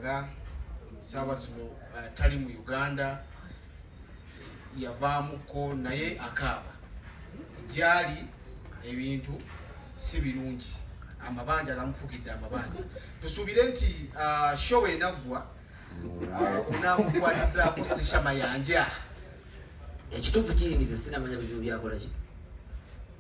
nga saawa zino uh, tali mu uganda yavaamuko naye akaaba gyali ebintu si birungi amabanja gamufukidde amabanja tusuubire nti uh, show enaggwa uh, onamukwalizaako stisha mayanja ekituufu kiyingiza sinamanya bizibu byakolaki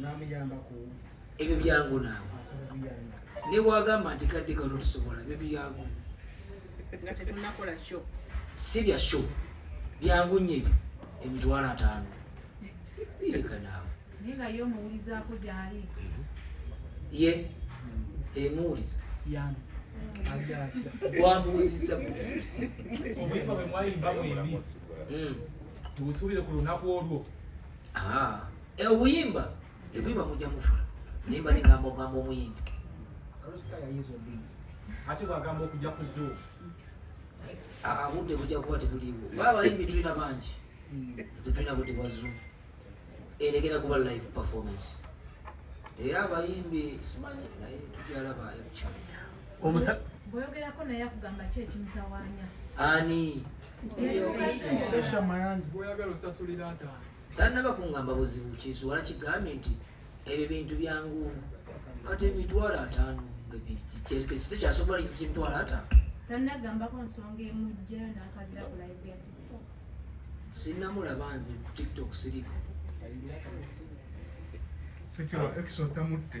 namuyambako ebyo byangu naawe newagamba nti kadde kano tusobola ebyo byangu si bya sho byangu nye ebyo emitwalo ataano ireka naawe ye emuwuliza wamuwuzizza tubusuubire ku lunaku olwo Ah, e obuyimba ebuyimba mujja mufa naye mbali ngamba ogamba omuyimbi kalusika yayinza obuyimba ate bwagamba okujja ku zoo ah, budde bujja kuba tebuliiwo baba bayimbi tulina bangi hmm. tetulina budde bwa zoo eregera kuba live performance era abayimbi simanyi naye tujalaba ekyo bweyogerako naye akugamba ki ekimutawaanya ani tanaba kungamba buzibu kisuwala kigambye nti ebyo bintu byangu kati emitwalo ataano kyekisite kyasobola kyemitwalo ataano tanagambako nsonga emujja nakabira kulaive sinamulaba nze ku tiktok siriko sekirwa ekisotamutte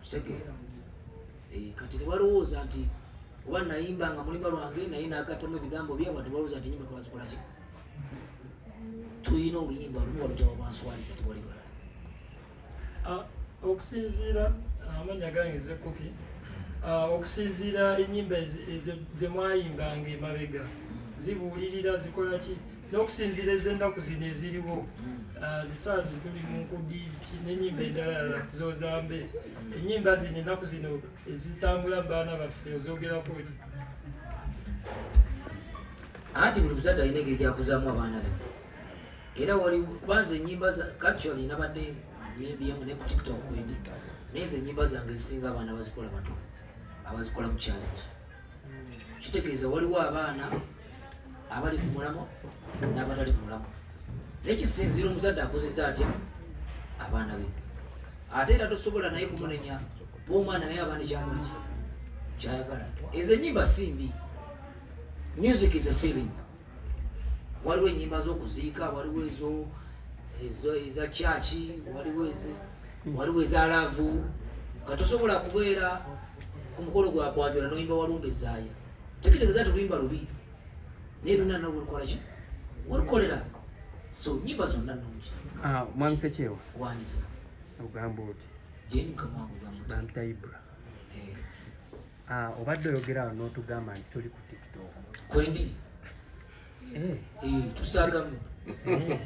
kitegeera eh, kati tebalowooza nti oba nayimba nga mulimba lwange naye nagatamu ebigambo byabwe tebalowooza nti nyimba twazikolaki tulina oluyimba lumu walutawa banswaliza tewali balala ah, okusinziira ah, amanya gange zekuki ah, okusinziira enyimba zemwayimbanga emabega zibuulirira zikolaki n'okusinziira ez'ennaku zino eziriwo esaawa zino tuli mu nkudiibiti n'ennyimba endalala zozambe ennyimba zino ennaku zino ezitambula baana baffe ozogerako ti anti buli muzadde alina engeri gyakuzaamu abaana be era wali kubanza ennyimba actually nabadde nyimbiyemu ne ku tiktok wendi naye ezo ennyimba zange ezisinga abaana bazikola bato abazikola mu challenge kitegeeza waliwo abaana abali ku mulamo n'abatali ku mulamo naye kisinziira omuzadde akozeza atya abaana be ate era tosobola naye kumunenya bwomwana naye abaana ekyamuli kyayagala ezo enyimba si mbi music is a feeling waliwo enyimba zokuziika waliwo ezo eza kyaki waliwo eze waliwo eza laavu nga tosobola kubeera ku mukolo gwa kwanjula noyimba walumba ezaaya tekitegeeza ti luyimba lubi naye luna nawe olukola ki olukolera so nyimba zonna nungi ah, mwami sekyewa wandiza ogamba oti jenkamaogamba bantayibra eh. Ah, obadde oyogera awo n'otugamba nti tuli ku tiktok kwendi eh. eh, tusagamu eh.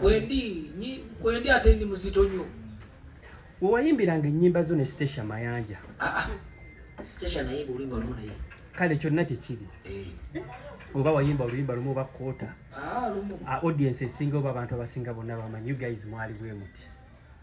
kwendi kwendi ate ndi muzito nyo wewayimbiranga ennyimba zo ne stasia mayanja ah, ah. stasia naye oluyimba lumu naye kale kyonna kyekiri oba wayimba oluyimba lumu oba koota audience esinga oba abantu abasinga bonna bamanyi you guys mwali bwe muti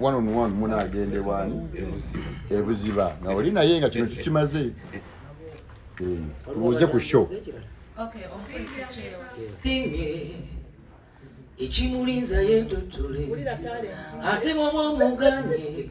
one on one muna agende wani ebuziba nga oli naye nga kino tukimaze eh, tubuuze ku show ekimulinza yetotole ate bwoba omuganye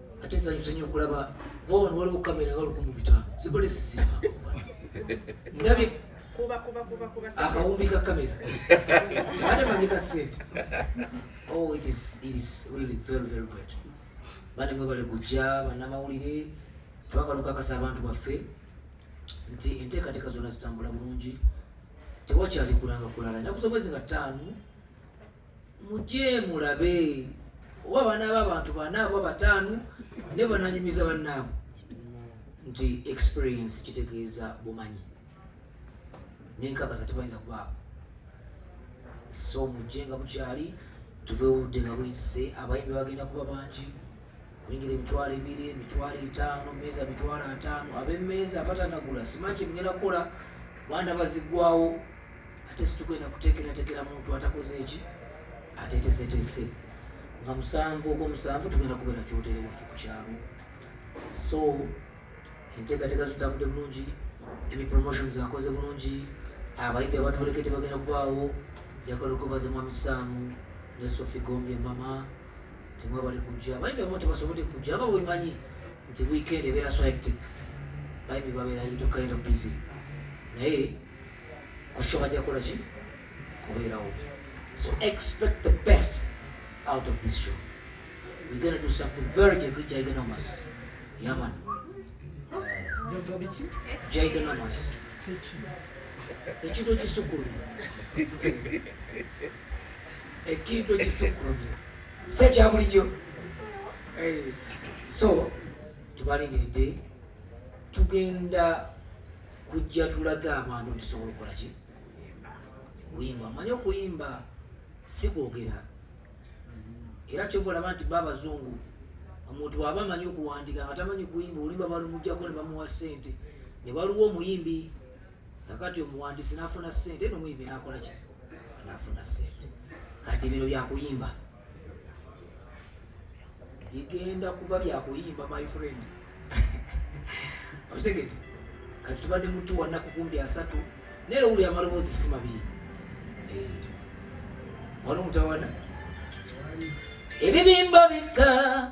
ate nsanyuse nyo okulaba wabano waliwo kamera nga lukumu bitano zibale siziba ndabye akawumbi ka kamera ate mandika sente oh it is, it is really very very great bane mwebale kujja banamawulire twagala okakasa abantu baffe nti enteekateeka zonna zitambula bulungi tewakyali kulanga kulala enaku z'omwezi nga ttaano mujje mulabe oba abaana b'abantu bana oba bataano ne bananyumiza bannaabwe nti experience kitegeeza bumanyi nenkakasa tebayinza kubaako so mujje nga bukyali tuve obudde nga buyise abayimbi bagenda kuba bangi Mwingire emitwalo ebiri, emitwalo etaano, meeza mitwalo ataano. Ab'emmeeza abatanagula simanyi kye mugenda kukola, banda bazigwawo ate situgenda kuteekerateekera muntu atakoze eki ateeteseteese nga musanvu ogwomusanvu tugenda kubeera kyotere waffe ku kyalo so enteekateeka zitambudde bulungi emi promotions akoze bulungi abayimbi abatwolekede bagenda kubaawo njagala okwebaza mwami saamu ne sofi gombe mama temwebale kujja bayimbi abamu tebasobodde kujja aba wemanyi nti weekend ebeera so hectic bayimbi babeera little kind of busy naye kusho bajja kola ki kubeerawo so expect the best out of this show we're gonna do something very gigantomous yaman gigantomous ekintu ekisukkuluma ekintu ekisukkulumye si ekya bulijjo eh, so tubalindiridde tugenda kujja tulaga abantu tusobola okukola ki kuyimba amanye okuyimba si kwogera era kyova olaba nti ba abazungu omuntu waba amanyi okuwandika nga tamanyi kuyimba olimba balumugjako ne bamuwa ssente ne waliwo omuyimbi kakati omuwandiisi nafuna sente nomuyimbi nakola ki nafuna sente kati bino byakuyimba bigenda kuba byakuyimba my friend okitegede kati tubadde mutu wanaku kumbi asatu naye lowuli amaloboozi si mabiri eh. wali omutawana ebibimba bikka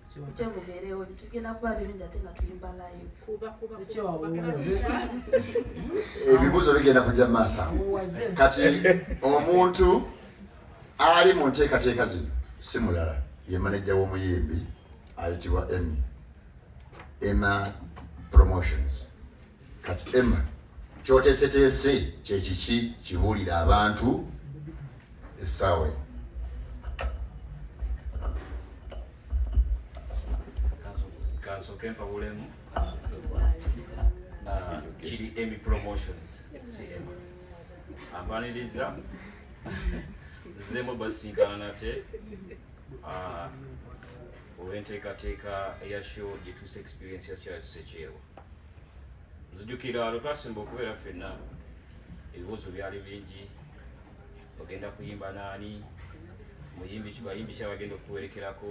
njengobeerewo tugenda kuba birungi ate nga tuyimba live ebibuuzo bigenda kujja mu maaso kati omuntu ali mu nteekateeka zino si mulala ye manejja w'omuyimbi ayitibwa emmy emma promotions kati emma kyoteeseteese kyekiki kibuulira abantu essaawa eno kansooke mpawulemu ah, kiri emi promotions cm ampaniriza nzemu basinkana nate ah, olw'enteekateeka eya show gyetuusa experience ya charles sekyewa nzijukira lwe twasimba okubeera ffenna ebibuuzo byali bingi ogenda kuyimba naani muyimbi kibayimbi kyabagenda okuwerekerako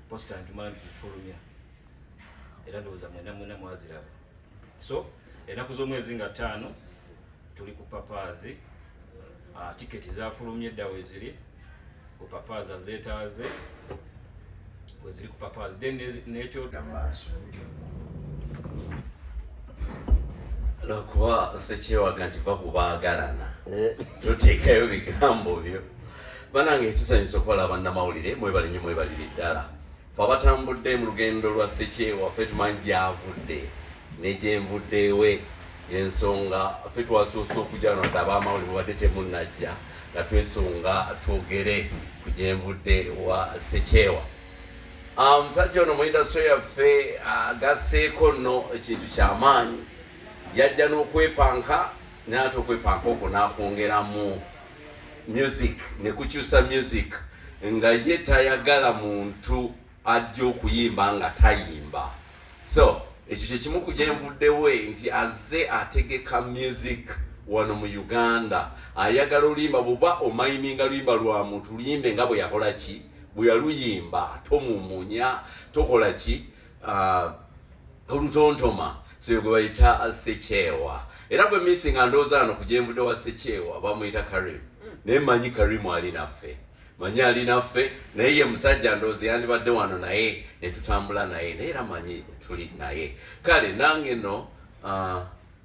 posita ntumala nti kufulumya era ndowooza mwena mwena mwaziraba so enaku z'omwezi nga ttaano tuli ku papaazi ah, tiketi zafulumye dda weziri ku papaazi azetaaze weziri ku papaazi then nekyo maaso lwakuba sekyewaga nti va ku baagalana eh. toteekayo bigambo byo banange ekisanyusa okubalaba bannamawulire mwebalinyo mwebalire ddala fe abatambudde mu lugendo lwa sekyewa fe tumanyi gyavudde negyenvuddewe ensonga fe twasoose okujja no dda abamawuli mubadde temunajja nga twesonga twogere ku gyenvudde wa sekyewa ah, omusajja ono muindasitry yaffe agasseeko ah, nno ekintu kyamaanyi yajja n'okwepanka naye ate okwepanka okwo nakwongeramu music ne kukyusa music nga ye tayagala muntu ajja okuyimba nga tayimba so ekyo kyekimu ku gyenvuddewe nti azze ategeka music wano mu uganda ayagala oluyimba buba omayininga luyimba lwa muntu luyimbe nga bwe yakola ki bwe yaluyimba tomumunya tokola ki uh, olutontoma soyo gwe bayita sekyewa era gwe misi nga ndowooza ano ku gyenvude wa sekyewa bamuyita karimu mm. naye manyi karimu ali naffe manyi ali naffe naye ye musajja ndowooza yandibadde wano naye netutambula naye naye era manyi tuli naye kale nange no uh,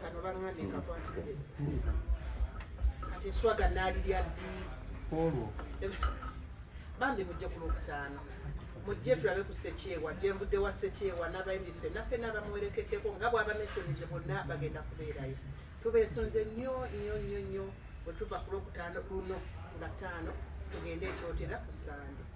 kano bangambye kakwatidde kati eswaga naalirya ddi olwo bambi mujje ku lwokutaano mujje tulabe ku sekyewa gyenvudde wa sekyewa n'abayimbi fenna fenna abamuwerekeddeko nga bw'abametonize bonna bagenda kubeerayo tubeesunze nnyo nnyo nnyo nnyo bwe tuva ku lwokutaano luno nga ttaano tugende ekyotera ku sande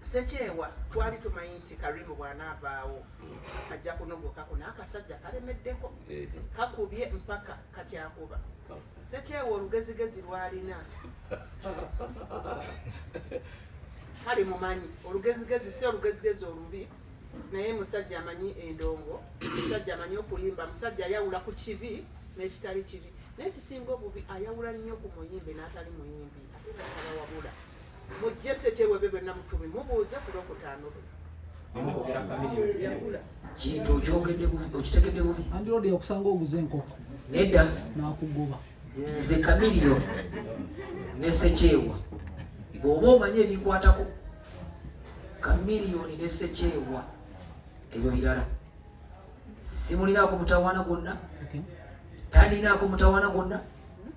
Sekyewa twali tumanyi nti Karimu bw'anaavaawo ajja kunogoka kuno akasajja kalemeddeko kakubye mpaka kakyakuba Sekyewa olugezigezi lwalina kale mumanyi olugezigezi si olugezigezi olubi naye musajja amanyi endongo musajja amanyi okuyimba musajja ayawula ku kibi n'ekitali kibi naye kisinga obubi ayawula nnyo ku muyimbi n'atali muyimbi ate nakalawabula mujje sekyewe bebe namutumi mubuuze ku lwokutaano lwe kintu okyogedde okitegedde bubi andirodi yakusanga oguze enkoko nedda nakugoba nze kamiriyo ne sekyewa bw'oba omanyi ebikwatako kamiriyoni ne sekyewa ebyo birala simulinaako mutawaana gwonna talinaako mutawaana gwonna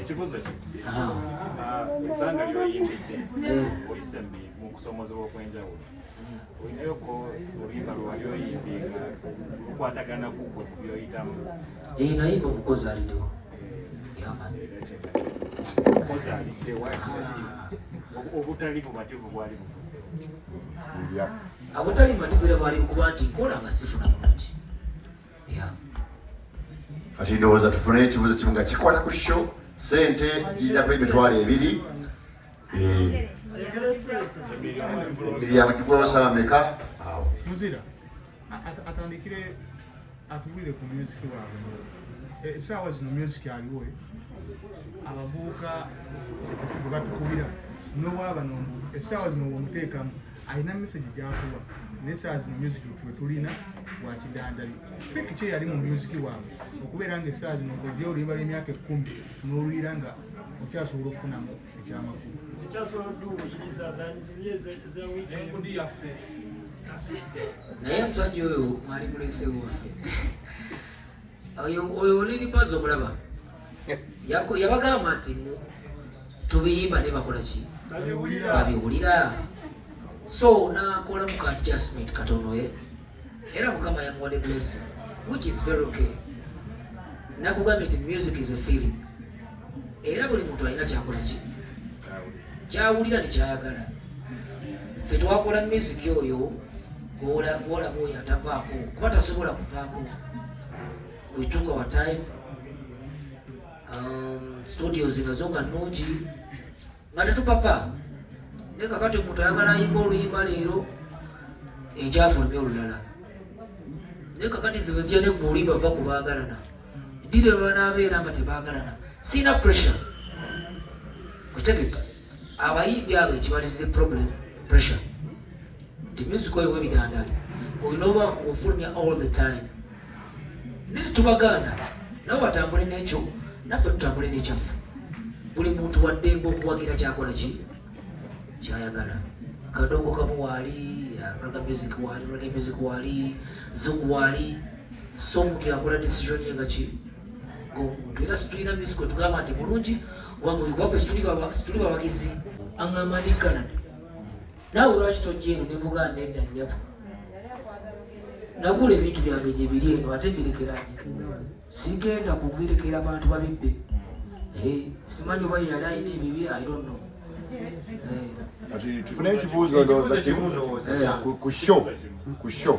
ekibuzo ki ebbanga lyoyimbidde oyise mu kusomozebwa okwenjawulo olinayo ko oluyimba lwewali oyimbi nga lukwatagana kugwe ku byoyitamu ee nayimba omukozi alidewo omukozi alidewo obutali bumativu bwali bufuzewo obutali bumativu era bwali kuba nti kola nga sifuna bulungi kati ndowooza tufune ekibuuzo kimu nga kikwata ku sho sente girinako emitwalo ebiri emiriyamu gikolosa ameka awo atandikire atubwire ku music waabwe esaawa eh, zino music aliwo eh? abavubuka bwebatukubira nowaabano esaawa zino womuteekamu alina message gyakuwa naye saa zino music wetulina wakidandali pekisi eyali mu music waabwe okubeera nga esaa zino ngojja oluyimba lw'emyaka ekkumi n'oluyira nga okyasobola okufunamu ekyamakulu naye omusajja oyo mwali mulesewo oyo oliri pazi okulaba yabagamba nti tubiyimba ne bakola ki babiwulira so nakola mu ka adjustment katono ye era mukama yamuwadde blessing which is very okay nakugambye nti music is a feeling era buli muntu alina kyakola ki kyawulira nekyayagala fe twakola miziki oyo gwolaba oyo atavaako kuba tasobola kuvaako wetuka wa time um, studio zinazo nga nungi nga tetupapa naye kakati omuntu ayagala ayimba oluyimba leero ekyafulumya olulala naye kakati zibe zija ne gwe olimba va ku baagalana ddira lwanaabeera nga tebaagalana siina pressure okitegedde abayimbi abo ekibaliridde problem pressure the music oyo webidandaali olina oba ofulumya all the time naye tubagaana nawe watambule n'ekyo naffe tutambule n'ekyaffe buli muntu waddembe okuwagira kyakola ki kyayagala kadongo kamu waali raga music waali raga music waali zungu waali so omuntu yakola decision ye nga ki ngaomuntu era situlina music wetugamba nti mulungi kubanga oyo gwaffe situli bawagizi angamba ndi canada naawe lwaki tojja eno ne muganda edda nnyabo nagula ebintu byange gye biri eno ate mbirekeranye sigenda kubirekera bantu babibbe eh, simanyi oba yali alina ebibi i don't know tufune ekibuuzo ndowooza kimu ku show ku show